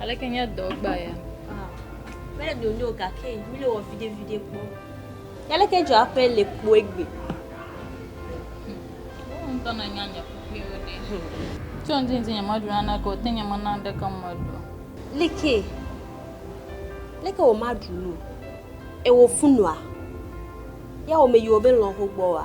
Aleke nye dɔ gba ya? Ah, mele nyonyo gake mi le wɔ vide vide kpɔ. Aleke dzɔ aƒe le kpoe gbe? Wo ŋutɔ na nya nye kpukpuiwo ɖe. Tso ŋdi ŋdi nye meɖu nane ke o, te nye mena ɖeke meɖu. Like, leke wo ma ɖu nu? Ewo funua? Ya wo me yiwo be lɔho gbɔ wa?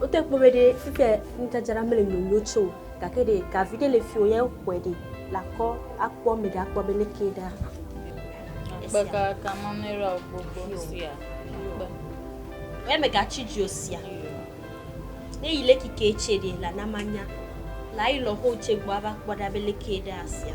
Wote kpɔ be ɖe fike nudzadzra mele nyonyo tse o gake ɖe gavi ɖe le fi o ya xɔe ɖe lakɔ akpɔ ame ɖe akpɔ be leke ɖa. Kpe kaka mame ɖe o gbogbo sia. Kpe. Wɛ me gatsi dzi o sia. Ne yi leki ke tse ɖe la na manya. La yi lɔ ho tse gbɔ ava kpɔ ɖa be leke ɖa sia.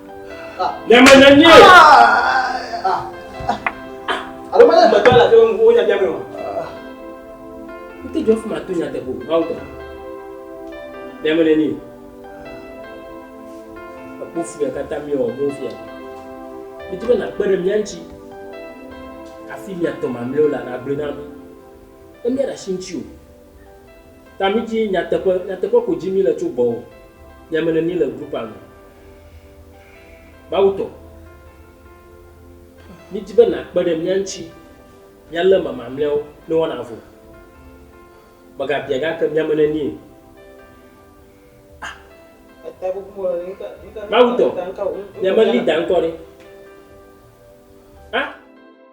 Nyama nyɛ nyɛ. Alo mɛ gbɛgbɛ la tɛ ŋu wo nyabia mi o. N tɛ jɔ fuma to nyatɛ ko bawo tɛ. Nyama nyɛ nyɛ. Ekpo fia kata mi o mo fia. Mi ti bɛ na kpɛ ɖe mia ŋuti. Afi mia tɔ mamlɛwo la na gblẽ na mi. Emia ɖe asi ŋuti o. Ta mi dzi nyateƒe, nyateƒe ko dzi mi le tso gbɔwò. Yame ne mi le group a me. Mawu tɔ. Mi dzi be na kpe ɖe mia ŋtsi mia le eme mamleawo ne woa na vo. Mega bia gake miame ne nie. Ah. Mawu tɔ. Miame leader ŋkɔ ɖe. Ah.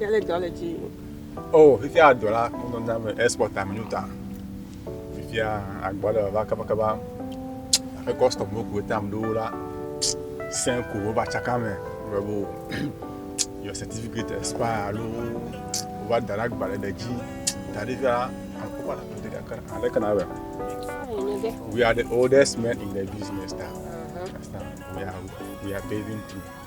Yale dɔ le dzi. Oh, fifia dɔ la nɔ na me export am nyo ta. Fifia agbɔ le va kaba kaba. Aƒe custom wo ko tam do la. Sen ko wo va tsaka me. Bravo. Your certificate expire alo wo va da la gba le dzi. Ta fifia aƒe pa la ko de ka kana. Ale kana be. We are the oldest men in the business now. Uh -huh. We are we are paving through.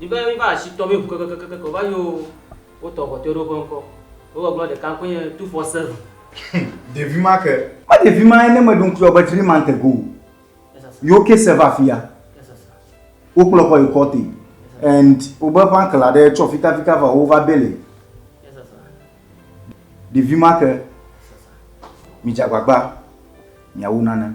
Miva, miva asi tɔ mí ŋu kekekekeke o, va yi oo, wotɔ ŋu kpɔtɔewo ɖe woƒe ŋkɔ. Wo gbɔgblɔ ɖeka ŋkɔe nye Tufɔ Seven. Hum, ɖevi ma ke! Ma ɖevi ma ye ne meɖo ŋku yɔ be three months ago o. Yi wo case va afia, wo kplɔ kɔ yi court and wo be eƒe uncle aɖe tsɔ fita fita va wo va bail ye. Ɖevi ma ke! Mi dze agbagba mia wu nane.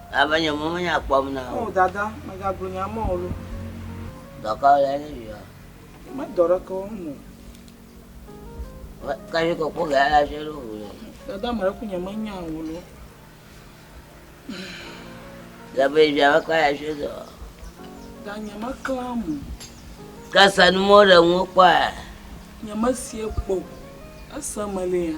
Ava nye mɔ me nya kpɔm na wò. Oh dada megagblɔ nye amɔ olo. Dɔ ka wole ne vi wa? Me dɔ ɖe ke wɔm o. Ka vi kɔkɔ ga ya je lo hu le. Dada me ɖe ku nye me nya wò lo. Gabe via me ka ya je dɔ. Da nye me kla mo. Ka sa nu mo ɖe ŋu kpɔ ya. Nye me sie kpo. Ese me le ya.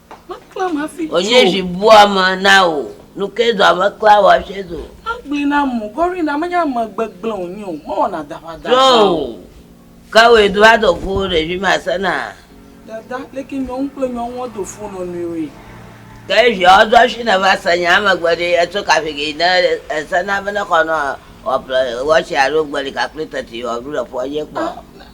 Meklãm hafi tso. Wònye zi bua me na wò. Nu ke dɔa meklã wò hafi tso. Egblɔe na mo, Gorina, menye ame gbegblẽ wònye o, mewɔna daƒadaƒa o. Tso, ke wòe do va dɔ kuwò ɖevi masena. Dada, leke nyɔnu kple nyɔnua do fo nɔ nɔewoe? Ke viawo do hafi nèva se nyaa megbe ɖe, etso kafi ke yi ne esena be nexɔ nɔ wòaƒle watsi alo gbeli kakple teti wòaɖu le ƒua dzi kpɔ?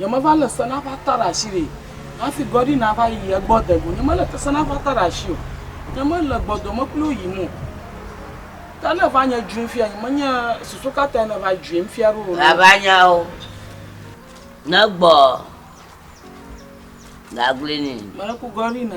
Nyemeva lé se na ƒe ata ɖe asi ɖi hafi Gordie nava yi egbɔ de go. Nyemelé se na ƒe ata ɖe asi o. Nyemele gbɔdɔme kpli wo yim o. Ke ne eva nye dzoim fia, nyemenye susu ka tae nèva dzoim fia ɖo o. Vava nyawo, negbɔ gaglini. Mele ku Gordie na.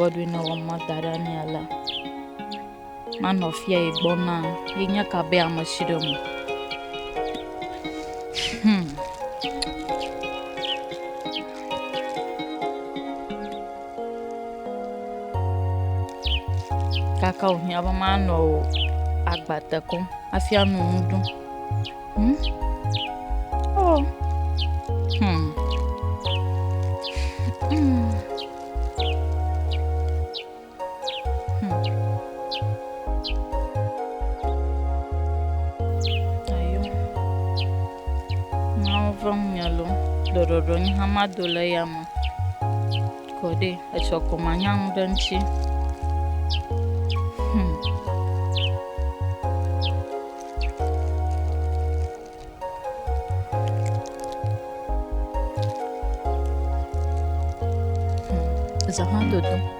Godwin ewɔ mɔ da ɖe mía la manɔ fia yi gbɔ na yi nya ka be ame si ɖe mu. Hmm. Kaka wòhiã be manɔ wò agba te kɔm hafi ano nu ɖum. Hmm? Oh. Hmm. Hmm. Mawu ƒe ŋunya lo, ɖɔɖɔɖɔ nye hã mado le eya me kɔ ɖe etsɔ ko manya nu ɖe ŋuti. Hmm. Hmm. Zahã dodo.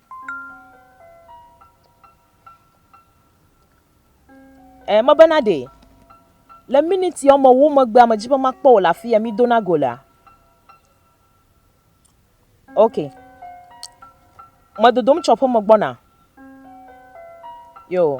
Ɛɛ, mebena ɖe le miniti woamewo megbea medzi be makpɔ wò le afi ya mídona go lea? Ok. Medodom tso aƒeme gbɔna. Yo.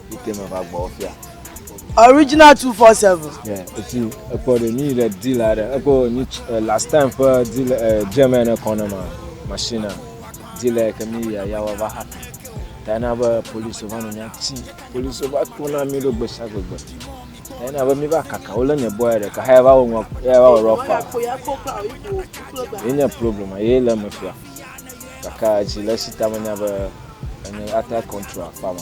Original 247. Yeah, it's you. Epo de ni le deal are. Epo ni eh, last time for deal eh, German economy machine. Deal eh, ke mi ya ya wa va happy. Tana ba police ba no nya chi. Police ba ko na mi do gbesa gbegbe. Tana ba mi ba kaka ole ne boy de ka ha ba wo nwa ya ba wo rofa. Ni nya problem ye le me fia. Kaka chi le sita me nya ba ni ata control pa ma.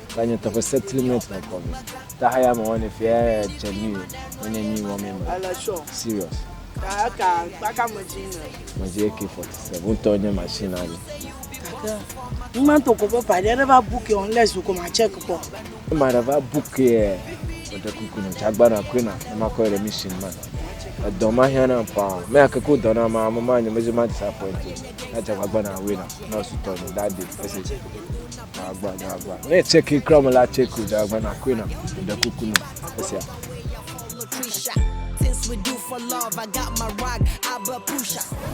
Ba nye tɔƒe setli me tɔ kɔ me. Ta haya me wɔne fia tse ni me nye ni wɔ me me. Ele sɔ. Serious. Ka ka ba ka me ji ne. Me ji eke fɔ se bu tɔ nye machine ali. Kaka. Ni ma to ko ba pa de ba book on le zu ko ma check ko. Ni ma de ba book e. Me de ku ku ne chagba na ku na ma ko le mission ma. E do ma hia na pa. Me a ke ko do na ma ma ma nye me ji ma disappoint. Na chagba na we na. Na su to ni da de. Ese. Agba, da agba. Ne tseki kura me la, tseki da agba na koe na ɖe kuku na esia.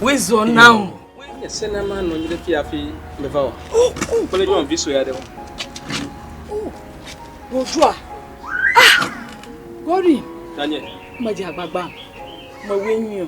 Wezɔ na o. Ese na ma nɔ anyi ɖe fi hafi meva o. Kple nyɔnu vi sue aɖe o. Bonjour. Ah! Gori. Tanye. Medze agbagba. Mewoe nyuie.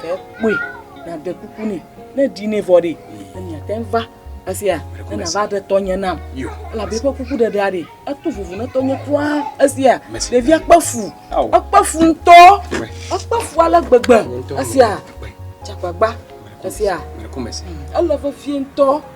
Ke kpɔe nàɖe kuku nɛ ne ɖi nɛ vɔ ɖe ne miate ŋu va esia ne nava ɖe tɔnye nam elabe eƒe kuku ɖeɖea ɖe eto vovo ne tɔnye kura esia ɖevia kpe fu ekpe fu ŋutɔ ekpe fu ale gbegbe esia dzagbagba esia ele vevie ŋutɔ.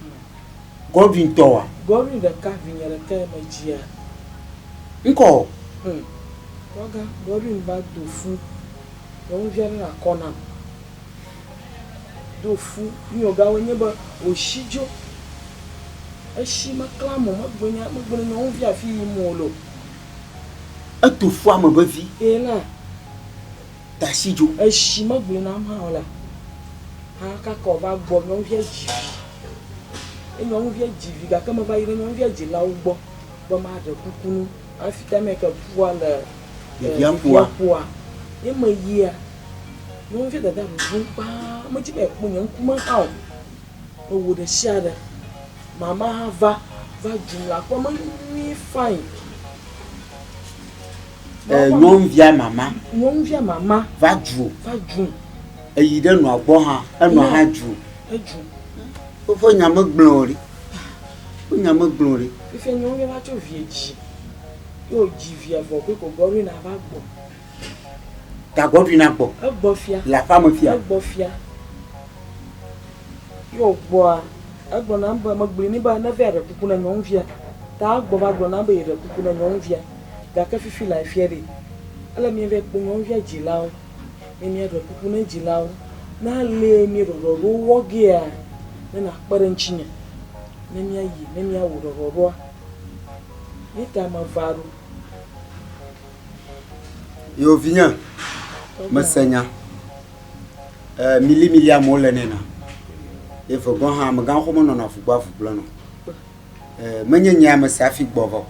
Hm. Godwin tɔa? Godwin ɖeka vinye ɖekae medzia. Ŋkɔ o. Hm. Kpɔga, Godwin va do fu. Nyɔnuvia ɖe na kɔ nam. Do fu. Nuyiwògawoe nye be wòshi dzo. Eshi meklã mo, megblɔ nya, megblɔ na nyɔnuvia afi yim wòle o. Eto fua me vevi. Ena. tasi dzo. Esi megblɔe nam hã o la, hã kaka wòva gbɔ. Nyɔnuvia dzi vi. Ye nyɔnuvia dzi vi gake meva yi ɖe nyɔnuvia dzilawo gbɔ be maɖe kuku no hafi ta me ke ƒua le ɖevia ƒua. Ye meyia, nyɔnuvia dada ɖuɖum kpaa. Medi be yeakpɔ nye ŋkume hã o. Ewu ɖeshiaɖe. Mama hã va va dzum le aƒe me nyuie fani. E, nyɔnuvia mama. Nyɔnuvia mama. Va dzu. Va dzu. Eyi ɖe nɔa gbɔ hã. Enɔa hã dzu. Edzu. Woƒe nya megblẽ o ɖi. Woƒe nya megblẽ o ɖi. Fifia nyɔnuvia va tsɔ vie dzi. Ye wòdzi via vɔ be Gɔgɔrina va gbɔ. Gagbɔ ɖui na gbɔ. Egbɔ fia. Le aƒea me fia. Egbɔ fia. Ye wògbɔa, egblɔ nam be, megblɔe nɛ be neva ɖe kuku na nyɔnuvia. Ta egbɔ va gblɔ nam be yeɖe kuku na nyɔnuvia. Gake fifi la efia ɖi. Ele mí va kpɔ nyɔnuvia dzilawo. Ne míaɖe kuku na dzilawo, ne ale mí ɖɔɖɔɖowo wɔ gea, ne nàkpe ɖe ŋutinye ne míayi ne míawɔ ɖɔɖɔɖoa. Ye ta meva ɖo. Yo vinye, mese nya. Eh, mili mili amewo le nena. Eve gɔn hã megan xɔ menɔ na vugba vugble no. Eh, menye nye ame se afi gbɔ vɔ.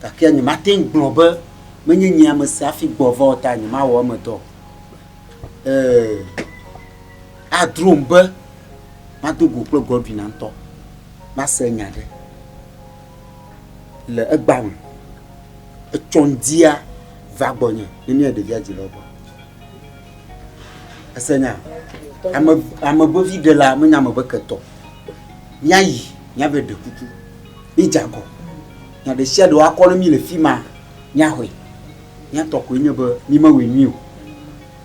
Gake nye ma ten gblɔ be menye nye ame se afi gbɔ vɔ ta nye ma wɔ eme dɔ. Eh, adrom be ma do go kple Godwin antɔ. Ma se nya ɖe. le egbea me, etsɔ ŋdia va gbɔnye ne nye ɖevia dzi le egbɔ. Ese nya, ame ame vevi ɖe la menye ame be ketɔ. Míayi míave ɖe kuku, mídze agɔ. Nya ɖe sia ɖe woakɔ ne mí le fi ma míaxɔe. Míatɔ koe nye be mímewɔe nyui o.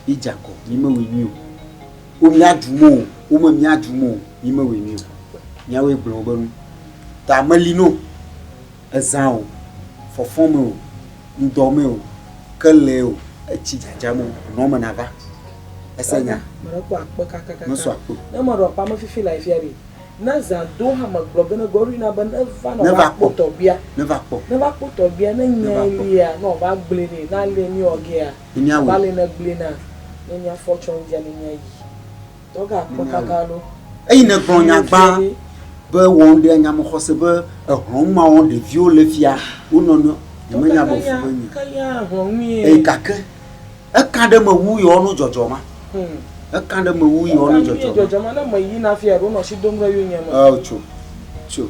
Mídze agɔ, mímewɔe nyui o. wo míaɖum o, wo me míaɖum o, mí mewɔe nɛ o. Míawoe gblẽ wobe nu. Ta meli no ezã o, fɔfɔ me o, ŋdɔ me o, kelɛ o, etsi dzadza me o, nɔ me nava. Ese nya? Meɖekpɔ akpe kakakaka. Mesɔ akpe o. Ne meɖo aƒea me fifi lae fia ɖe? Ne zã do hã megblɔ be ne Gorina be neva ne Neva woakpɔ kpɔ. tɔgbia. Neva kpɔ. Neva kpɔ tɔgbia ne Neva nyae kpɔ. lia ne wòava gblɔe nɛ. Ne alia mí wɔ gea? Nunya wui. Bali ne gblui na nunya fɔ tsɔ ŋdja nunya yi. Tɔ ga kpɔ kaga ɖo. Eyi ne gblɔ nya gba be wɔ ŋɖe anya me xɔse be ehlɔn ma wɔ ɖeviwo le fia wo nɔ nɔe nye me nya be fu be nyi. Eyi gake eka ɖe me wu yɔ no djɔdjɔ ma. Eka ɖe me wu yɔ no djɔdjɔ ma. Djɔdjɔ ma ne me yi na fia ɖo nɔ shi dom ɖe yo nya me. Eo tso tso.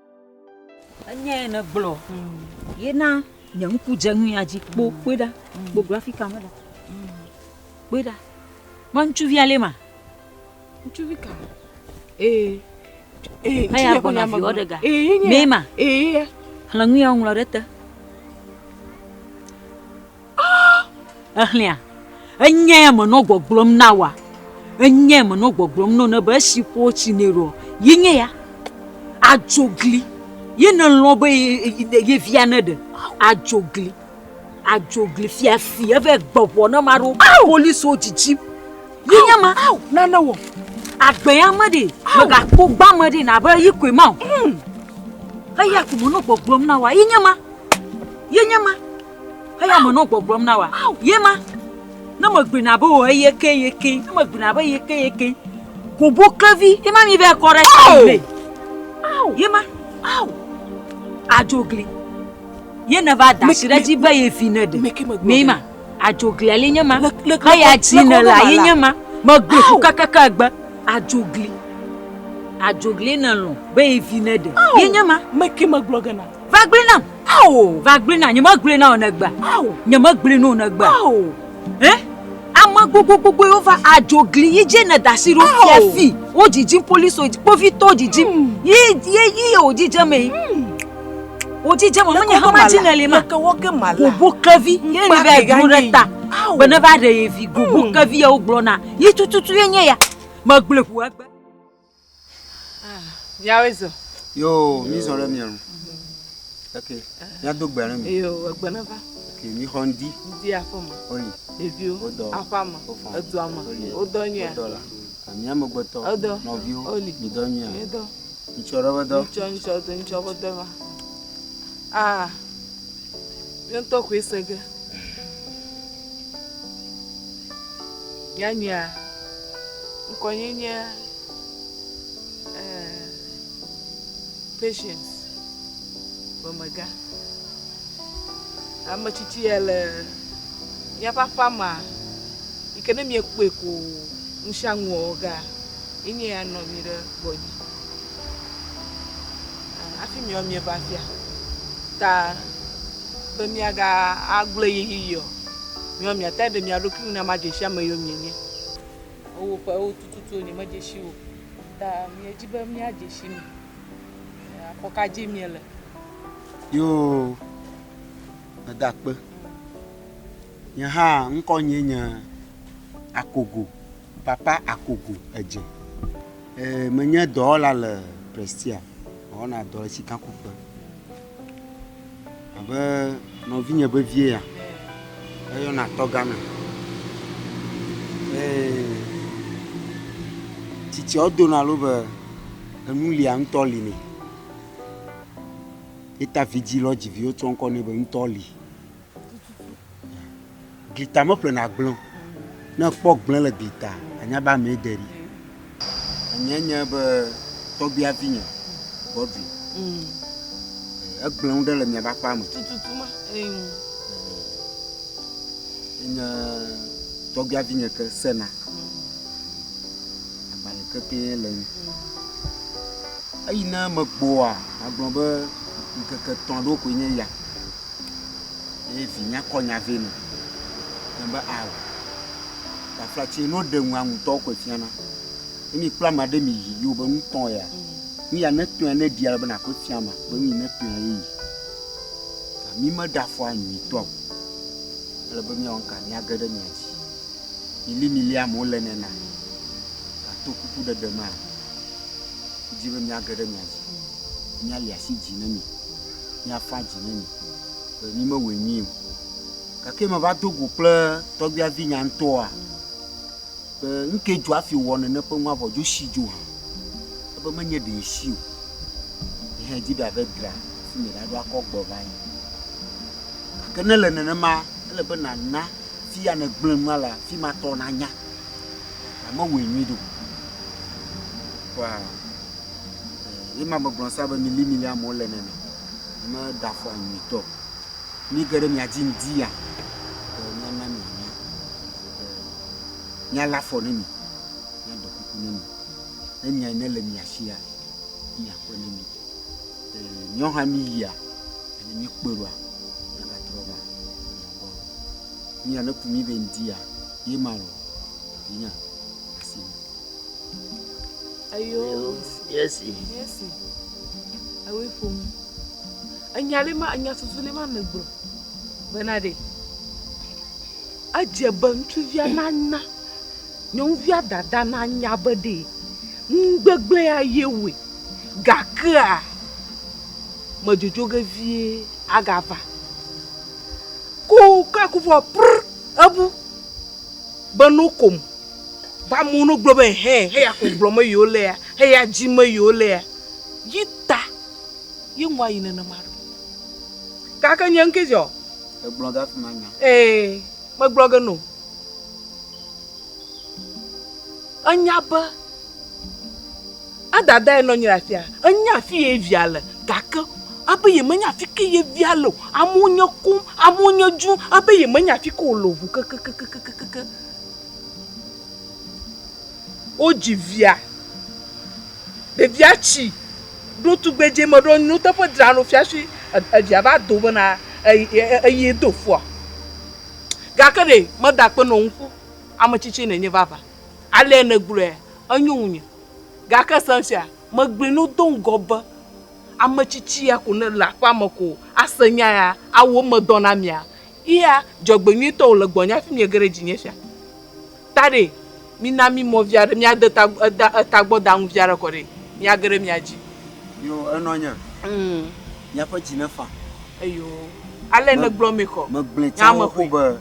Enyae nègblɔ. Ye na nye ŋku dze nuya dzi. Kpo, kpɔe ɖa. Kpo grafika me ɖa. Kpɔe ɖa. Ma ŋutsuvia lé ma. Ŋutsuvi ka? Ee. Ee, ŋutsuvia kɔ nya magblɔ. Ee, ye nye. Mee ma. Ee, ye. Xlẽ nuya woŋlɔ ɖe te. Èxlẽa? Enyae menɔ gbɔgblɔm na wòa? Enyae menɔ gbɔgblɔm nɔ ne be esi ƒo tsi nɛ ɖoa, ye nye ya? Adzogli ye nèlɔ̃ be ye via neɖe? Adzogli, adzogli fiafi eve gbe ŋɔ ne ma ɖo poliswo dzidzim. Ye nye ma, nane wɔ. Agbe ya me ɖe, megakpɔ gba me ɖe nabe yi koe ma o. Eya ko menɔ gbɔgblɔm na wòa, ye nye ma, ye nye ma. Eya me nɔ gbɔgblɔm na wa, ye ma, ne megblɔe na be wò eye ke ye ke, ne megblɔe na be ye ke ye ke, kobo klevi, ye ma mi vɛ kɔ ɖe ta mi vɛ, ye ma, adzogli, ye ne va da si ɖe dzi be ye vi ne ɖe, mi ma, adzoglia li nye ma, he ya dzi ne la ye nye ma, megbe fu kakaka gbe, adzogli, adzogli ne lɔ be ye vi ne ɖe, ye nye ma, me ke megblɔ ge na. Va gblɔe nam. Ao. Va gblɔe nam. Nyemegblɔe na wò nègbe. Ao. Nyemegblɔe na wò nègbe. Ao. Ɛ? Ame gbogbogbogboe wova adzo gli yi dze ne dasi ɖo fia fi. Wo dzidzim police wo kpovitɔwo dzidzim. Yi yi yi wo dzidze me. Wo dzidze me menye hama dzi ne li ma. Gobo kevi ye ni va dro ɖe ta. Be ne va ɖe ye vi gobo kevi ye wo gblɔ na. Yi tututu ye nye ya. Megblɔe ƒu egbe. Ah, miawe zɔ. Yo, mi zɔ ɖe mia nu. Ok, mia do gbe ɖe mi. Yo, egbe ne va. Ok, mi xɔ ŋdi. Ŋdi aƒe me. Oli. Ɖeviwo. Wodɔ. Aƒe me. Wofɔ. Edua me. Oli. Wodɔ nyuia. Wodɔ la. Mia megbetɔ. Wodɔ. Nɔviwo. Oli. Mi dɔ nyuia. Mi dɔ. Ŋutsɔ ɖe be dɔ. Ŋutsɔ ŋutsɔ do ŋutsɔ be dɔ va. Ah, mi ŋutɔ koe se ge. Nyanyuia, ŋkɔnyenyea, ɛɛ, Patience ƒe megã. Ame tsitsi ya le míaƒe aƒea mea, yi ke ne miekpɔe ko ŋusiaŋu wɔwɔ gea, ye nye ya nɔ anyi ɖe gbɔnye. Ɛɛ, hafi miawo mieva afia ta. be miagagblɔe ɣeyiɣi o, miɔ miate ɖe mia ɖokui ŋu na madze si ame yio mienye. Ewɔ ƒewo tututu nyemedze si o ta miedi be miadze si mi. Afɔ ka dzi miele? Yoo, meda akpe. Nye hã ŋkɔnye nye Akogo, Papa Akogo Edze. Menye dɔwɔla le Prestea, mewɔna dɔ le sikakuƒe. Abe nɔvinye vevie ya, eyɔna tɔ Ghana. Ee, tsitsia wodona lo be enu lia ŋutɔ li nɛ. Ye ta vidzĩ lɔ dzi viwo tsɔ ŋkɔ nɛ be ŋutɔ li. Gita meƒlena gblẽ o. Ne ekpɔ gblẽ le gita, anya be amee de ɖi. Enye nye be tɔgbia vinye Godwin. Mm. Egblẽ nu ɖe le miaba kpa me. Tututu ma. Eyo. Enye tɔgbia vinye ke sena. Agbalẽ kekeɛ le nu. Eyi ne megboa, agblɔ be ŋkeke tɔ̃ ɖo koe nye ya. Ye vi nyakɔ nya vɛ nɔ. Nya be ao. Tafla tse no ɖe ŋu aŋutɔ koe fiana. Ne mi kpla ma ɖe mi yi yo be nu tɔn ya. Nu ya ne tɔn ya ne ɖia be na koe fia ma be nu yi ne tɔn ya ye yi. Ka mi me ɖa fɔ anyi tɔ. Ele be mi wɔn ka mi age ɖe mi adzi. Mi li mi li amewo le nena. Ka to kuku ɖe ɖe ma. Dzi be mi age ɖe mi adzi. Mi ali asi dzi ne mi. míafa dzi ne mi be mímewɔe nyuie o. Gake meva do go kple tɔgbia vinya ŋutɔa be ŋkee dzo afi wɔ nene ƒe ŋu avɔ dzo si dzo hã. Ebe menye ɖe si o. Yi hã edzi be ave dra fi me ɖaɖo akɔ gbɔ va yi. Gake ne le nenema, ele be nàna fi ya nègblẽ nua le afi ma tɔ nanya be mewɔe nyuie ɖe o. Kpɔa? Ye ma megblɔ sa be milimili amewo le nene. Me da fɔ nyuitɔ. Mi ke ɖe mia dzi ŋdi ya. Mia na mi nya. Mia la fɔ ne mi. Mia do kuku ne mi. Ne nya ne le mia si ya. Mia kɔ ne mi. Nyɔ ha mi yia. Ne mi kpe roa. Mia ga trɔ va. Mia gbɔ. Mia ne ku mi be ŋdi ya. Ye ma lo. Vinya. Asi mi. Eyo yesi. Yesi. Ewe ƒom. Enya ɖe ma enya susu ɖe ma me gblɔ. Bena ɖe. Edze be ŋutsuvia nana nyɔnuvia dada nanya be ɖe ŋugbegbe ya ye wòe gakea medzodzo ge vie agava. Ko ke kuvɔ pr ebu be no kom. Ba amewo no gblɔ be hɛ heya ko gblɔ me yiwo le ya heya dzi me yiwo le ya yi ta yi ŋwa yi nene ma ɖo kake nye ŋke zɔ e gblɔ ga fi ma nya ee me gblɔ ge no enya be adada ye nɔ nyi afia enya fi ye via le gake abe ye menya fi ke ye via le amewo nye kum amewo nye dzu abe ye menya fi ke o le ʋu kekekekekeke Wodzi via. Ɖevia tsi ɖo tugbedzɛ me ɖo nyoteƒe dzra ɖo fiasui evia va do bena eye do fua. Gake ɖe meda akpe nɔ ŋku ametsitsi nenye vava. Alea negblɔe enyo ŋunye. Gake se ŋsia megblɔe no do ŋgɔ be ametsitsi ya ko nele aƒea me ko ase nya ya awɔ eme dɔ na mia. Iya, dzɔgbenyuitɔwo le gbɔnye hafi miege ɖe dzinye fia. Taɖɛ, mina mí mɔ vi aɖe, míade ta, da, tagbɔdanu vi aɖe kɔ ɖi, míage ɖe mia dzi. Yo, enɔ nye. Mm. Miaƒe dzi nefa. Eyo. Ale nègblɔ mɛ kɔ. Megblɔe tsã Nya me xoxo ʋli. be,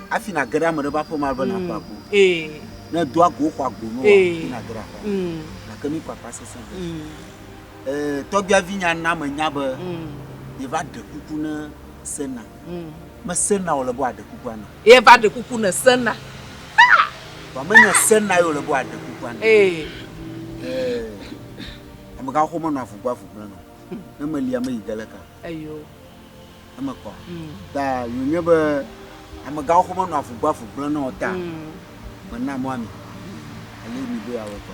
Hafi nàge ɖe ame ɖe ƒe aƒe me ale be nàƒle agbo. Mm. Ee. Ne èdo agbowo xɔ agbo nuwoa, Ee. hafi nàge ɖe aƒea me. Mm. Gake mí kpakpa sesẽ ɖe. Mm. Ee, tɔgbiavinya na menya be Mm. yeva ɖe kuku ne. Sena. Mesena wòle be wòaɖe kukua na. Ye va ɖe kuku ne Sena. Haa! Vɔ menye Sena ye wòle be wòaɖe kukua na. Ee. Ee. Amegãwo xɔ menɔa avu gbɔ avu gblẽ na o. Ne meli ame yi ge le ka. Eyo. Eme kɔ. Ta yewonye be amegãwo xɔ menɔa avu gbɔ avu gblẽ na o ta. Mena mɔa mi. Eye mi be yeawɔe kɔ.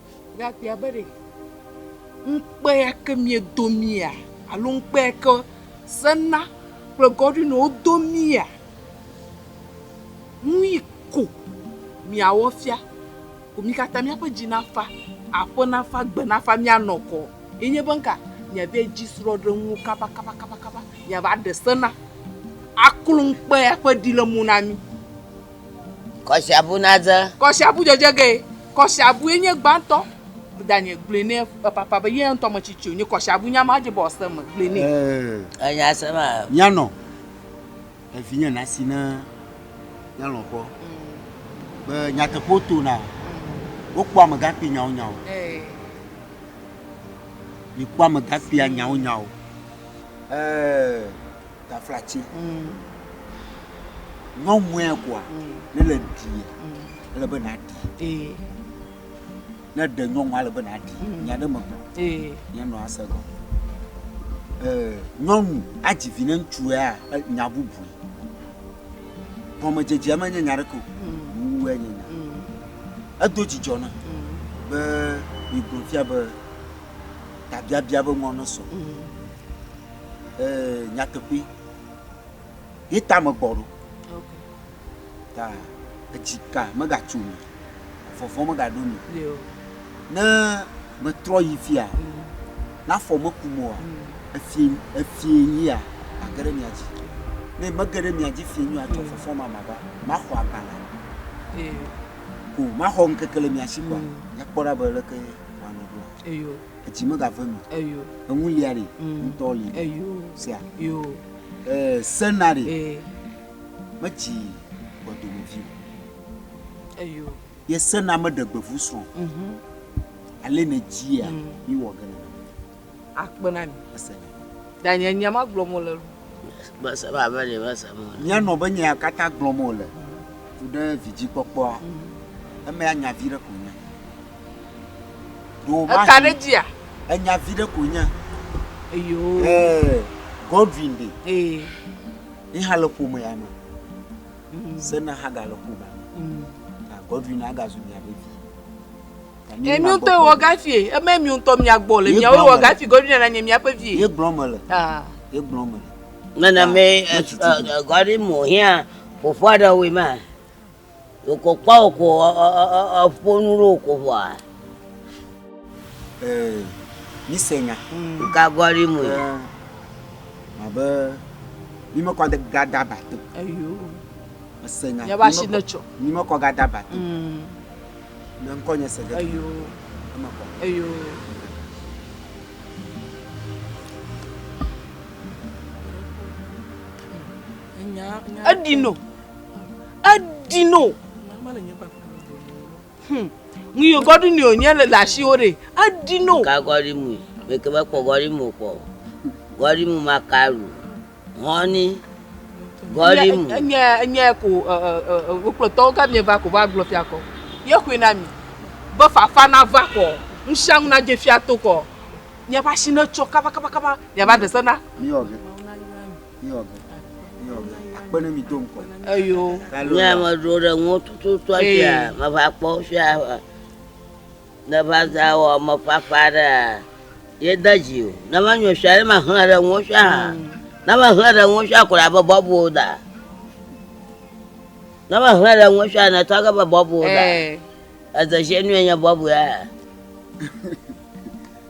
Ɖekakpuia be ɖe, ŋukpe ya ke miedo mía alo ŋukpe ya ke Senna kple Godwin wodo mía ŋui ko miawɔ fia ko mi katã míaƒe dzi nafa, aƒe nafa, gbe nafa míanɔ kɔ. Ye nye be ŋka miava edzi srɔ̃ɖenuwo kabakabakaba miava ɖe Senna aklo ŋukpe ya ƒe ɖi le mo na mi. Kɔsiabu nadze. Kɔsiabu dzedze ge. Kɔsiabue nye gbãtɔ. Danye gblɔe nɛ papa be ye ŋutɔ metsi tsi wonye. Kɔsiabu nya ma dze be wòase eme. Gblɔe nɛ. Ee. Enya ase ma. Nyanɔ evinye nasi ne nyanɔ kpɔ be nyateƒewo tona. Wokpɔ amegakpui nyawonyawo. Ee. Mikpɔ amegakpuia nyawonyawo. Ee. Taflatsi nyɔnue koa ne le ɖi ele be na ɖi ne ɖe nyɔnua ele be na ɖi nya ɖe me gblɔ nya nɔ ase gɔ nyɔnu adzi vi ne ŋutsua nya bubu gɔmedzedzea me nye nya ɖe ko wu enye nya edo dzidzɔ na be mi gblɔ fia be tabiabia be ŋɔ ne sɔ. nyateƒe ye ta me gbɔ ɖo ta edzi ka megatso mi vɔvɔ megaɖo mi ne metrɔ yi fia mm. nafɔ meku moa mm. efie efie yia age ɖe mia dzi ne mege ɖe mia dzi fie nyo atsɔ mm. fɔfɔ ma ma ba maxɔ agbalẽ ko maxɔ ŋkeke le mia si kɔ nyakpɔ ɖa be leke wanɔ ɖo eyo Etsi megave nu. Eyo. Eŋu lia ɖe. Mm. Ŋutɔ li. Eyo. Sea. Yo. Ee, sena ɖe. Ee. Metsi gbɔdomevi o. Eyo. Ye sena meɖe gbevu srɔ̃. Mhm. Ale ne dzia, mm. mi wɔ gene. Akpe na mi. Ese. Danye nya ma gblɔ mo le. Bese ba be le bese mo. Nya nɔ be nya kata gblɔ mo le. Tu ɖe vidzi kpɔkpɔa. Mm. Eme anya vi ɖe ko nya. Eka ɖe dzia? Enya vi ɖe koe nye. Eyo. Ee, Godwin ɖe. Ee. Yi hã le ƒomea me. Mm. Sena hã gale ƒomea me. Mm. Ah, Godwin agazu mia ɖe vi. Ye mi ŋutɔ wɔ gafi ye, eme mi ŋutɔ mia gbɔ le mia wɔ gafi Godwin na nye miaƒe vi ye. Ye gblɔ me le. Ah. Ye gblɔ me le. Nana me ah, eh, eh, Godwin mo hia ƒoƒua ɖe wema. Wòkɔ kpɔ wòkɔ eƒo nu ɖe wòkɔ ƒoa. Ee, mi se nya. Ka gɔli mu ye? Abe mi me kɔ ga da ba to. Eyo. Ese nya. Yaba shi ne tsɔ. Mi me kɔ ga da ba to. Ne ŋkɔ nye se ge. Eyo. Eme kɔ. Eyo. Enya. Enya. Edi no. eɖi no hmm. ŋun yóò gɔɖi ni o nye le le asiwo ɖe eɖi no. ka gɔɖi mu meke be kpɔ gɔɖi mu kpɔ gɔɖi mu ma ka lu hɔni gɔɖi mu. nye nye ko wokplɔtɔwo ka mi va ko va gblɔ fia kɔ ye koe na mi be fafa na va kɔ ŋusianu na dze fia to kɔ miaƒe asi ne tsɔ kabakabakaba miava ɖe se na. Eyo, nye ame ɖo ɖe ŋuwo tututu afia, meva kpɔ fia ne va za wɔ me fafa ɖe yeda dzi o. Ne va nyɔ fia ne ma hlẽ ɖe ŋuwo fia hã. Mm. Ne va hlẽ ɖe ŋuwo fia kɔ abe bɔbu da. Ne va hlẽ ɖe ŋuwo fia ne tɔ abe bɔbu da. Eze zie nu enye bɔbu ya.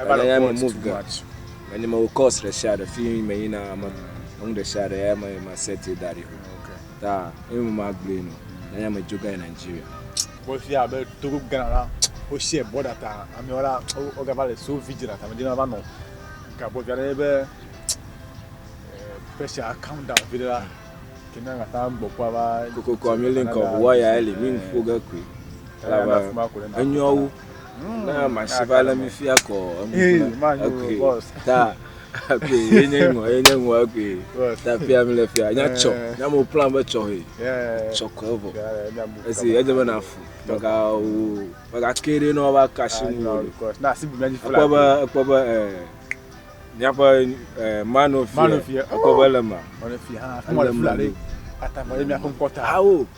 Ever Nya mi move ga. Me ni me wo course ɖe sia ɖe fi me yina me enu ɖe sia ɖe ya me ma set da ɖi ho. Ta e mo ma gblue no. Na nya me jo ga Nigeria. Bo fi abe Togo Ghana la wo share border ta ame wala o ga vale so vigilant ame dina va no. Ka bo ga ne be pressure calm down bi la. Kina nga ta gbo kwa ba. Koko kwa mi link of wire ele mi fo ga kwe. Enyo na masi va le mi fia kɔ enu na ekui ta ekui ye nye ŋɔ ye nye ŋɔ ekui ta fia mi le fia nya tsɔ nya mo plan be tsɔ he tsɔ kɔ evɔ esi edze be na fu mega wo mega ke ɖe na ɔba kasi nu o ekpɔ be ekpɔ be ɛ miaƒe ɛ manu fia ekpɔ be le ma ele ma ɖe awo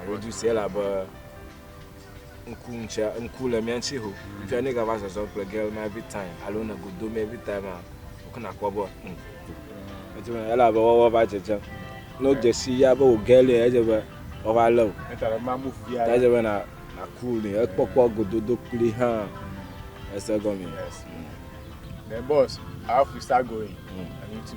Alo du sia elabe ŋku ŋutia ŋku le mía ŋuti ho. Fia ne gava zɔzɔ kple girl ma every time alo ne godo mi every time a wokɔ nakpɔ be hm. Etu ne elabe wɔwɔ va dzedzem. Ne wodze si ya be wò girl ya edze be wɔva le o. Eta be ma move via. Ta edze be na na cool ne ekpɔkpɔ gododo kpli hã. Ese gɔme. Yes. Mm. The boss, how we start going? Mm. I need to